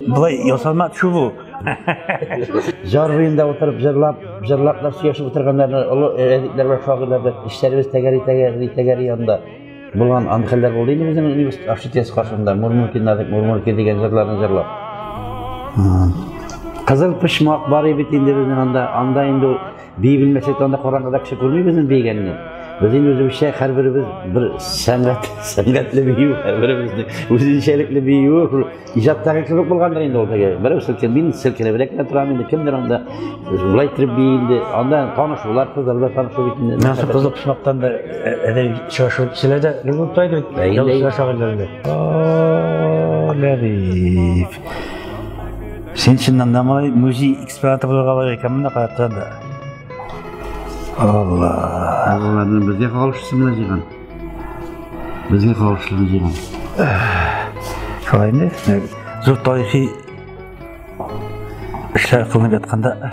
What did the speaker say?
Былай ясалма төшү бу. Җар буенда утырып җырлап, җырлап та сөйләшеп утырганнарны олы әдипләр бар, шагыйрлар да эшләребез тәгәри тәгәри тәгәри янда. Булган андый хәлләр булды инде безнең университет общежитиесе каршында Мурмурки надык, Мурмурки дигән җырларны җырлап. Кызыл почмак бар бит инде безнең анда, анда инде Бии белмәсә дә анда караңгыда кеше күрми безнең бигәнне. Безнең үзебезчә һәрберебез бер сәнгать, сәнгатьле бию, һәрберебезнең үзенчәлекле биюе, шул иҗаттагы кебек булгандыр инде ул теге. Берәү селкенеп, мин селкенеп рәкмә торам инде, кемдер анда шулай итеп бии инде. Анда танышулар, кызлар да танышу бит инде. Менә шул кызык шунлыктан да әдәй чашу кешеләр дә гел булып тайды бит. Ял шагыйрьләрендә. Ләбиб. Син чыннан да моңай музей экспонаты булырга лайык икән монда карап торам да. Алла. Алланы безгә кагылышлы менә җыйган. Безгә кагылышлы җыйган. Шулай инде. Зур тарихи эшләр кылынып ятканда